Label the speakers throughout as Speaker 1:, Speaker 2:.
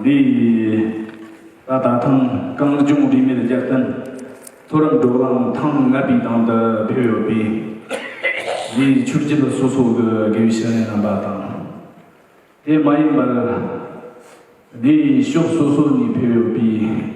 Speaker 1: འདི་ལྟར་ད་ཐེངས་གངས་ལྗོངས་རིས་མེད་རྒྱལ་བསྟན་མཐོ་རིམ་འབྲོག་ལམ་ཐང་ལྔ་པའི་ནང་དུ་འཕེལ་ཡོད་པས། རིའི་ཆུ་རྒྱུད་སོ་སོ་གི་དགེ་བའི་བཤེས་གཉེན་རྣམ་པ་དང། དེ་མ་ཡིན་པར་རིའི་ཕྱོགས་སོ་སོ་ནས་འཕེལ་ཡོད་པས།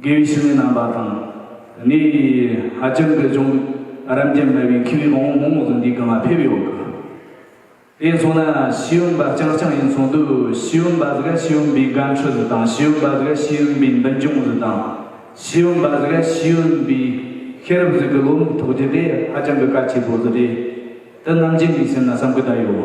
Speaker 1: དགེ་བའི་བཤེས་གཉེན་རྣམ་པ་དང། ངའི་ཧ་ཅང་གི་ཅུང་རབ་འབྱམས་དམའ་བའི་མཁས་པའི་བང་བོ་མང་བོ་ཟིན་འདུག་གི་མ་ཕེབས་ཡོད་གི། དེ་སོང་ན་ཤེས་ཡོན་པ་རྐྱང་རྐྱང་ཡིན་ཚོང་འདུག་ཤེས་ཡོན་པ་ཟིག་ཤེས་ཡོན་པའི་དགའ་འཕྲོ་ཟིག་དང་ཤེས་ཡོན་པ་ཟིག་ཤེས་ཡོན་པའི་འདུན་སྐྱོང་ཟིག་དང། ཤེས་ཡོན་པ་ཟིག་ཤེས་ཡོན་པའི་ཤེས་རབ་ཟིག་གི་བློ་མིག་ཐོགས་རྒྱུ་དེ་ཧ་ཅང་གི་དཀའ་ཆེ་པོ་ཟིག་རེད། དེ་རྣམ་ཅན་གྱི་སེམས་ན་བསམ་གི་ད་ཡོད།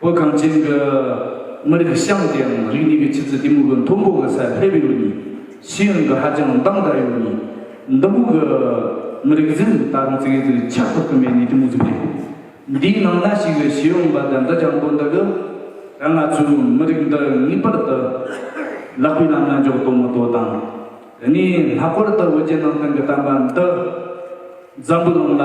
Speaker 1: བོད་གངས་ཅན་གྱི་མི་རིགས་ཤང་དེའང་རིག་གནས་ཀྱི་ཆུ་ཚད་དེ་མུ་གུ་མཐོན་པོ་གི་སར་སླེབས་ཡོད་ནི་ཤེས་ཡོན་གྱི་ཧ་ཅང་འདང་དག་ཡོད་ནི་འདི་མུ་གུ་མི་རིགས་གཟིམ་ད་རུང་ཚིག་གིས་ཆ་བཀོད་གི་མེད་ནི་དེ་མུ་ཟིག་རེད། འདིའི་ནང་ན་ཞིག་གི་ཤེས་ཡོན་པ་དང་འདྲ་ཆགས་པོ་འདི་གི་ང་ཚོའི་མི་རིགས་འདི་ངེས་པར་དུ་ལག་པའི་ལམ་ན་འཇོག་དོ་མི་དོ་དང་ངས་ལྷག་པར་དུ་བོད་ཀྱི་ནང་བསྟན་གྱི་གཏམ་པ་འདི་འཛམ་བུ་གླིང་ལ།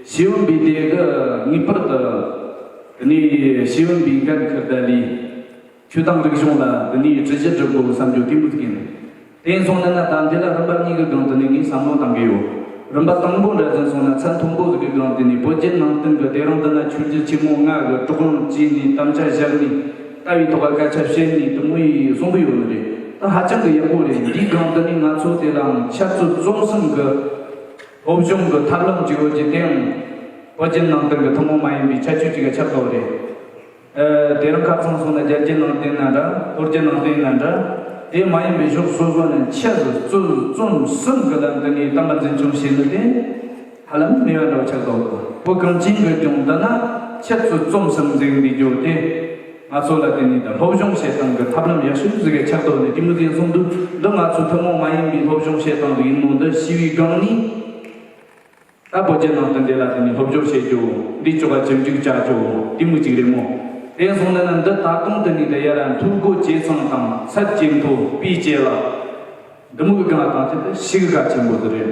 Speaker 1: ཤེས་ཡོན་པའི་སྡེ་འདི་ངེས་པར་དུ་འདི་ནས་ཤེས་ཡོན་པའི་འགན་འཁུར་བདའ་ལས། ཆོས་དང་རིག་གཞུང་ལ་འདི་ནས་གྲི་བཞི་བསྒྲུབ་དགོས་བསམ་རྒྱུ་གཏན་མི་ཐུག་ཡིན། དེ་ཡིན་སོང་ན་ན་ད་འདི་ལ་རིམ་པ་གཉིས་ཀྱི་སྒང་དུ་ནས་ངས་བསམ་བློ་གཏང་གི་ཡོད། རིམ་པ་དང་པོ་འདྲ་ཟིན་སོང་ན་ཚད་མཐོན་པོ་ཟིག་གི་སྒང་དེ་ནས་བོད་བརྒྱུད་ནང་བསྟན་གྱི་སྡེ་རང་འདི་ན་ཆོས་རྒྱུད་ཆེན་མོ་ལྔ་གི་གྲོགས་རྣམས་བཅས་ནས་དམ་བཅའ་བཞག་ནས་ལྟ་བའི་ཐོག་ལ་སྐད་ཆ་བཤད་ནས་དུམ་བུ་ཡིས་གསུང་གི་ཡོད་ནི་རེད། དེ་ཧ་ཅང་གི་ཡག་པོ་རེད་འདིའི་སྒང་དུ་ནས་ང་ཚོ་དེ་ལའང་ཤར་ཚུལ་རྩོམ་གསུམ་གྱི། བོད་གཞུང་གི་ཐབས་ལམ་གཅིག་རོལ་གྱི་སྟེང། བོད་བརྒྱུད་ནང་བསྟན་གྱི་ཐུན་མོང་མ་ཡིན་པའི་ཁྱད་ཆོས་གཅིག་གི་ཆབ་ཏོག་རེད། དེ་རིང་ཁ་ཚང་སོང་ན་རྒྱལ་གྱི་ནང་བསྟན་ཡིན་ན་འདྲ་ཧོར་གྱི་ནང་བསྟན་ཡིན་ན་འདྲ། དེ་མ་ཡིན་པའི་གཞུག་སོ་སོ་ནས་འཆད་རྩོད་རྩོམ་གསུམ་གྱི་ལམ་དུ་ངའི་གཏམ་པ་འཛིན་བྱུང་བྱས་ནི་དེ་ཧ་ལམ་མི་འོས་འདྲ་བ་ཆགས་འདུག་བོད་གངས་ཅན་གྱི་ལྗོངས་འདི་ན་འཆད་རྩོད་རྩོམ་གསུམ་འཛིན་འདི་རྒྱུ་དེ། ང་ཚོ་ལ་དེ་ནི་ད་སློབ་སྦྱོང་བྱེད་སྟངས་ཀྱི་ཐབས་ལམ་ཡག་ཤོས་ཤིག་རེད་ཆགས་འདུག་ནས་ཀྱི་མུ་ཙེས་གསུངས་འདུག་འདི་ང་ཚོའི་ཐུན་མོང་མ་ཡིན་པའི་སློབ་སྦྱོང་བྱེད་སྟངས་དེ་ཡིན་མོད་འདི་ཞི་བའི་སྒང་ནས་ད་བོད་རྒྱ་ནང་དུ་འདི་ལ་དེ་ནི་སློབ་སྦྱོར་བྱེད་རྒྱུ་འདི་ཆོ་ག་ཇི་འགྲིག་བྱ་རྒྱུ་དེ་མུ་གཅིག་རེད་མོ། དེ་སོང་ནས་ན་འདི་ད་དུང་དེ་ནི་ད་ཡ་ར་མཐུར་སྒོ་འབྱེད་ཚང་དང་ཚད་བརྒྱད་མཐོ་དཔེ་བྱད་ལ། འདི་མུ་གི་སྒང་དང་ཆེད་དུ་ཞི་གི་ག་ཆེན་པོ་དེ་རེད།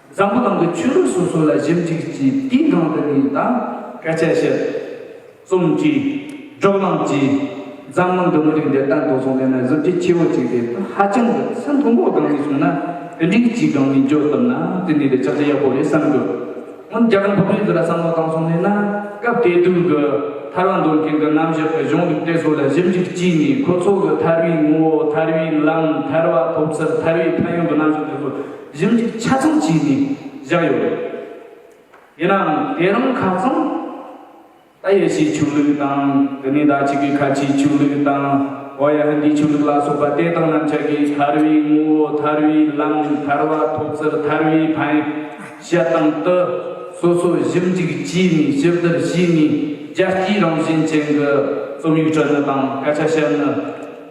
Speaker 1: འཛམ་བུ་གླིང་གི་ཆོས་ལུགས་སོ་སོ་ལ་ཞིབ་འཇུག་གྱིས་དེའི་སྒང་དུ་ནས་དང། སྐད་ཆ་བཤད། རྩོམ་བྲིས། སྒྲོག་གླེང་བགྱིས། འཛམ་གླིང་གི་མི་རིགས་འདི་ལྟར་འདུག་སོང་དེ་ནི་གཟི་བརྗིད་ཆེ་བོ་ཅིག་རེད་ཧ་ཅང་གི་ཚད་མཐོན་པོ་སྒང་ནས་སོང་ན་དེ་འདྲའི་གྱི་སྒང་ནས་འཇོག་ཐུབ་ན་དེ་ནི་རེད་ཅག་ཅག་ཡག་པོ་རེད་བསམ་དགོས། སྔོན་རྒྱ་གར་འབུམ་རིང་འདི་ལ་བསམ་བློ་བཏང་སོང་ནས་ན་སྐབས་དེ་དུས་ཀྱི་ཐར་བ་འདོན་མཁན་གྱི་རྣམ་གཞག་གི་གཞུང་ལུགས་དེ་ཚོ་ལ་ཞིབ་འཇུག་བགྱིས་ནས་ཁོ་ཚོ་གྱི་ཐར་བའི་ངོ་བོ་ཐར་བའི་ལམ་ཐར་བ་ཐོབ་ཚུལ་ཐར་བའི་ཕན་ཡོན་གྱི་རྣམ་གཞག་དེ་ཚོ་གཞུང་གཅིག་ཆ་མཚུངས་བྱས་ནས་བཞག་ཡོད་རེད། ཡིན་ནའང་དེ་རིང་ཁ་ཚང་ཏཱ་ཡེ་ཤེས་ཆོས་ལུགས་དང་དེ་ནས་ཟླ་གཅིག་གི་ཁ་ཆེའི་ཆོས་ལུགས་དང་ཨོ་ཡ་ཧིན་དིའི་ཆོས་ལུགས་ལ་སོགས་པ་དེ་དག་རྣམས་ཅག་གིས་ཐར་བའི་ངོ་བོ་ཐར་བའི་ལམ་ཐར་བ་ཐོབ་ཚུལ་ཐར་བའི་ཕན་བྱེད་སྟེང་དུ་སོ་སོ་གཞུང་གཅིག་བྱས་ནས་ཞིབ་བསྡུར་བྱས་ནས་རྒྱལ་སྤྱིའི་རང་བཞིན་ཅན་གྱི་རྩོམ་ཡིག་སྤྲོད་ནི་དང་སྐད་ཆ་བཤད་ནི།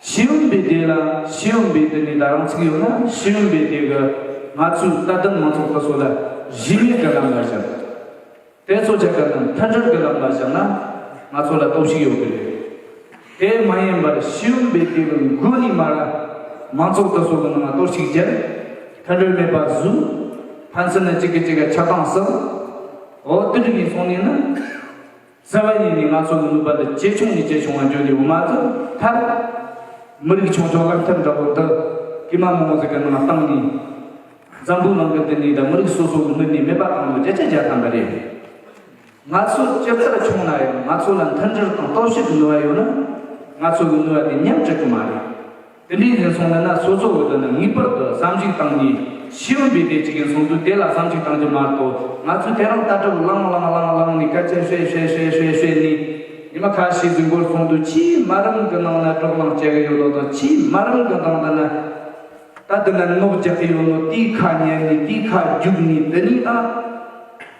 Speaker 1: ཤེས་ཡོན་པའི་སྡེ་ལ་ཤེས་ཡོན་པའི་སྡེ་ནས་ད་རང་ཚིག་ཡོད་ན་ཤེས་ཡོན་པའི་སྡེ་གི་ང་ཚོའི་ལྟ་གདམ་མང་ཚོགས་ལྟ་སོགས་ལ་གཞི་མེད་གི་ལམ་ལ་བཞག་དེ་ཚོ་ཆ་ག་ནས་མཐར་གྲོལ་གི་ལམ་ལ་བཞག་ན་ང་ཚོ་ལ་སྟོབས་ཤིག་ཡོད་གི་རེད། དེ་མ་ཡིན་པར་ཤེས་ཡོན་པའི་སྡེ་གི་མགོ་ནས་མ་ར་མང་ཚོགས་ལྟ་སོགས་གི་ནང་ལ་གཏོར་བཤིག་བྱས་མཐར་གྲོལ་མེད་པ་བཟོས་ཕན་ཚུན་ནས་གཅིག་གིས་གཅིག་གི་ཆགས་སྟངས་སུ་འོ་དུད་ནས་སོང་ནས་ན། གསལ་བ་ཡིན་ནི་ང་ཚོ་ལ་ནུས་པ་འདི་ཇེ་ཆུང་ནས་ཇེ་ཆུང་བར་འགྱུར་དུས་འོ་མ་དུ་ཐར། མི་རིགས་ཆུང་ཆུང་རླབས་ཐེབས་འདྲ་བོ་འདི། ཀྱེ་མ་མོ་ཟེར་གྱི་ནང་བཏང་ནས། འཛམ་བུའི་ནང་གི་འདི་ནས་ད་མི་རིགས་སོ་སོ་གི་མི་ནས་མེད་པ་བཏང་ནོ་བརྒྱ་ཆ་བརྒྱ་ཐམ་པ་རེད། ང་ཚོ་སྤྱིར་ཚད་ཆུང་ན་ཡང་ང་ཚོ་ལ་མཐུན་སྒྲིལ་དང་རྟོག་ཞིབ་གི་ནུས་བ་ཡོད་ན། ང་ཚོ་གི་ནུས་བ་དེ་ཉམས་གྲིག་གི་མ་རེད། དེ་ནས་ངན་སོང་མེད་ན་སོ་སོ་འོད་དོ་ན་ངེས་པར་དུ་བསམ་གཞིག་བཏང་ནས། ཤི་བ་འབད་པས་ཅི་གན་སོང་དུས་དེ་ལ་བསམ་གཞིག་བཏང་རྒྱུ་མ་གཏོགས་ང་ཚོས་དེ་རང་ལྟ་གྲབ་བླངས་བླངས་བླངས་བླངས་ནས་སྐད་ཆ་བཤད་བཤད་བཤད་བཤད་བཤད་ནས། ཉི་མ་ཁ་ཤས་རྫིག་པོར་སོང་དུས་ཕྱིའི་དམའ་རིམ་གྱི་ནང་ན་སྒྲོག་ལངས་བྱེད་ཀྱི་ཡོད་ལོ་དང་ཕྱིའི་དམའ་རིམ་གྱི་ནང་དུ་ན། ད་དེ་ན་མནོག་རྒྱག་གི་ཡོད་ནོ་དེའི་ཁ་ཉན་ནས་དེའི་ཁ་རྒྱུགས་ནས་དེ་ནས་ཨ།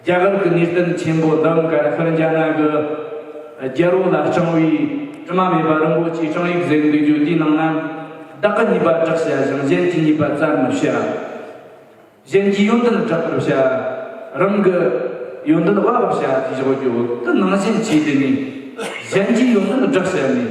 Speaker 1: རྒྱ་གར་གྱི་གནས་བརྟན་ཆེན་པོ་འདི་འགའ་རེ་ཧྥེ་རྒྱ་ནག་གི་རྒྱལ་རོང་ལ་བསྐྱངས་བས་དྲི་མ་མེད་པ་རིན་པོ་ཆེའི་བསྐྱངས་ཡིག་གཟེར་འདུག་རྒྱུ་དེའི་ནང་ན་བདག་གི་ཉེས་པ་བསྒྲགས་བྱ་ཞིང་གཞན་གྱི་ཉེས་པ་བཙལ་མི་བྱ། གཞན་གྱི་ཡོན་ཏན་བསྒྲག་པར་བྱ། རང་གི་ཡོན་ཏན་དབབ་པར་བྱ་ཞེས་བཞག་རྒྱུ་དེ་ནང་བཞིན་བྱས་དེ་ནས་གཞན་གྱི་ཡོན་ཏན་བསྒྲགས་བྱས་ནས།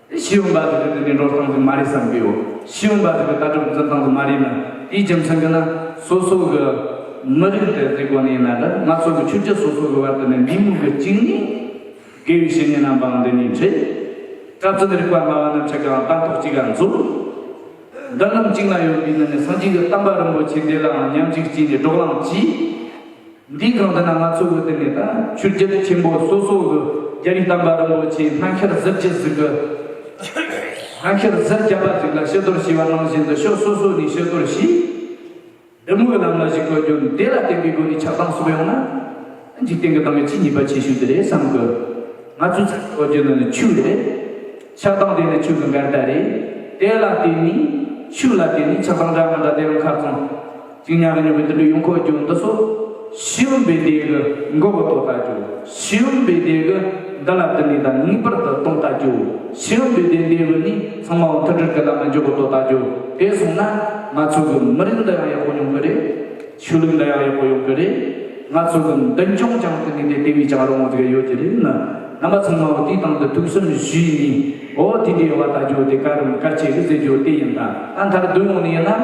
Speaker 1: ཤེས་ཡོན་པ་ཟེར་བའི་དོན་དེ་འགྲོ་སྟངས་ཙམ་མ་རེད་བསམ་གྱི་ཡོད། ཤེས་ཡོན་པ་ཟེར་བའི་ལྟ་གྲུབ་འཛིན་སྟངས་ཙམ་མ་རེད་ན། དེའི་རྒྱུ་མཚན་དེ་ན་སོ་སོ་གི་མི་རིགས་དེ་རྩིས་གོ་ནས་ཡིན་ན་འདྲ། ང་ཚོ་གི་ཆོས་བརྒྱུད་སོ་སོ་གི་བར་དུ་ནས་མི་མུག་གི་གཅིག་ནས། དགེ་བའི་བཤེས་གཉེན་རྣམ་པའང་འདི་ནས་འཁྲིད། སྐྲ་བཙུན་རིག་པ་སྨྲ་བ་རྣམས་ཆེ་གང་སྟངས་ཐོག་གཅིག་ག་འཛུགས། འདི་རྣམས་གཅིག་ན་ཡོད་པའི་ནི་ནས་སངས་རྒྱས་ཀྱི་གཏམ་པ་རིན་པོ་ཆེ་འདི་ལའང་ཉམས་ཅིག་བྱས་ནས་སྒྲོག་ལངས་གྱིས། འདིའི་གང་ལྟར་ན་ང་ཚོས་བོད་དོན་མེད་ད་ཆུ་རྒྱལ་ཆེན་པོ་སོ་སོ་གི་རྒྱ་རིགས་དམ་པ་རིན་པོ་ཆེའི་སྨན་ཁྱེར་གཟེར་གྱི་གཟིགས་གི་སྨན་ཁྱེར་གཟེར་རྒྱབ་པ་ཞིག་ལ་ཤི་དོར་ཞུས་པ་ནང་བཞིན་དུ་ཕྱོགས་སོ་སོ་ནས་ཤི་དོར་བྱས། འདི་དངོས་ལ་མི་གཞིགས་པར་རྒྱུ་འབྲས་ལ་བརྟེན་པའི་སྒོ་ནས་ཆགས་སྡང་སོགས་ཡོང་ན། འཇིག་རྟེན་གྱི་སྡང་བའི་ཆེས་ཉེས་པ་ཆེ་ཤོས་དེ་རེད་བསམ་གི། ང་ཚོས་ཚ་ཚ་འུར་རྒྱུ་འདི་ནི་ཆོས་རེད། ཆགས་སྡང་དེ་ནི་ཆོས་ཀྱི་འགལ་ཟླ་རེད། དེ་ལ་བརྟེན་ནས། ཆོས་ལ་བརྟེན་ནས་ཆགས་སྡང་འདྲ་མི་འདྲ་དེ་རུ་མཁར་རྫོང། གཅིག་ཉག་གི་ཉོན་པའི་དུད་འགྲོའི་ཡུམ་འཁོར་གྱུར་འདི་སོགས། ཤེས་ཡོན་པའི་སྡེ་དགུ་མགོ་བོ་དོར་ལྟ་གྱུར། ཤེས་ཡོན་པའི་སྡེ་དགུ་འདི་ལ་དུ་ནི་དང་ངེས་པར་དུ་གཏོང་ལྟ་གྱུར། ཤེས་ཡོན་པའི་སྡེ་འདི་བུ་ནི་ཚང་མའོ་མཐུན་སྒྲིལ་གྱི་ལམ་ལ་འཇུག་གོ་དོར་ལྟ་གྱུར། དེ་སོང་ན། ང་ཚོ་གི་མི་རིགས་འདི་ཡང་ཡག་པོ་ཡོང་གི་རེད། ཆོས་ལུགས་འདི་ཡང་ཡག་པོ་ཡོང་གི་རེད། ང་ཚོ་གི་མདུན་ལྗོངས་ཀྱང་དུ་ནི་དེ་དེ་བས་ཀྱང་རོང་བོ་དགའི་ཡོད་ཀྱི་རེད། རྣམ་པ་ཚང་མའོ་དུས་དང་དུ་ཐུག་སེམས་གཞིགས་ནས་འོ་དེ་འདྲའི་བ་ལྟ་གྱུར་དེ་ག་རུམ་གར་བྱེད་ཀྱི་མཛད་གྱུར་དེ་ཡིན་ད་ད་མཐར་བསྡུ་ཡོང་ནི་ཡིན་ན།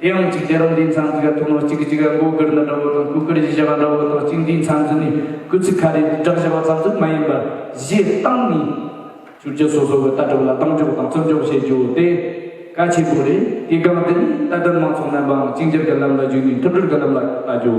Speaker 1: དེ་ཡང་གཅིག་རྒྱལ་རབས་འདིའི་མཚམས་འདི་ག་ཐུག་ནོ་གཅིག་གི་གཅིག་ག་མགོ་དཀར་ན་འདྲ་བོ་དང་སྐུ་དཀར་གཞི་བཞི་བ་འདྲ་བོ་དང་གཅིག་འདིའི་མཚམས་འདི་ནི་སྐུ་ཚིག་ཁ་རེ་དྲག་བཞི་བ་ཙམ་ཙམ་མ་ཡིན་པར་གཞི་གཏམ་ནི། བསྒྱུར་རྒྱུ་སོ་སོ་གི་ལྟ་གྲུབ་ལ་གདེང་འཇོག་དང་བརྩི་འཇོག་བྱེད་རྒྱུ་དེ་གལ་ཆེན་པོ་རེད་དེའི་སྒང་འདི་ནི་ལྟ་གྲུབ་མང་ཚོགས་རྣམས་པའང་གཅིག་འགྱུར་གྱི་ལམ་ལ་བརྒྱུད་ནས་མཐུན་སྒྲིལ་གྱི་ལམ་ལ་བལྟ་རྒྱུ།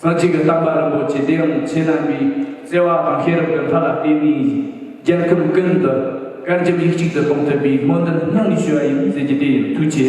Speaker 1: ས་གཅིག་གི་རྟག་པ་རིན་པོ་ཆེ་དེའང་ཆོས་རྣམ་པའི་བརྩེ་བ་དང་ཤེས་རབ་ཀྱི་ལྷ་ལ་བརྟེན་ནས་རྒྱལ་ཁམས་ཀུན་ཏུ་བཀའ་འགྱུར་ཡིག་གཅིག་ཏུ་གཏོང་ཐུབ་པའི་སྨོན་འདུན་སྙིང་ནས་ཞུ་བ་ཡིན་ཟེར་རྒྱུ་དེ་ཡིན་ཐུགས་ཆེ།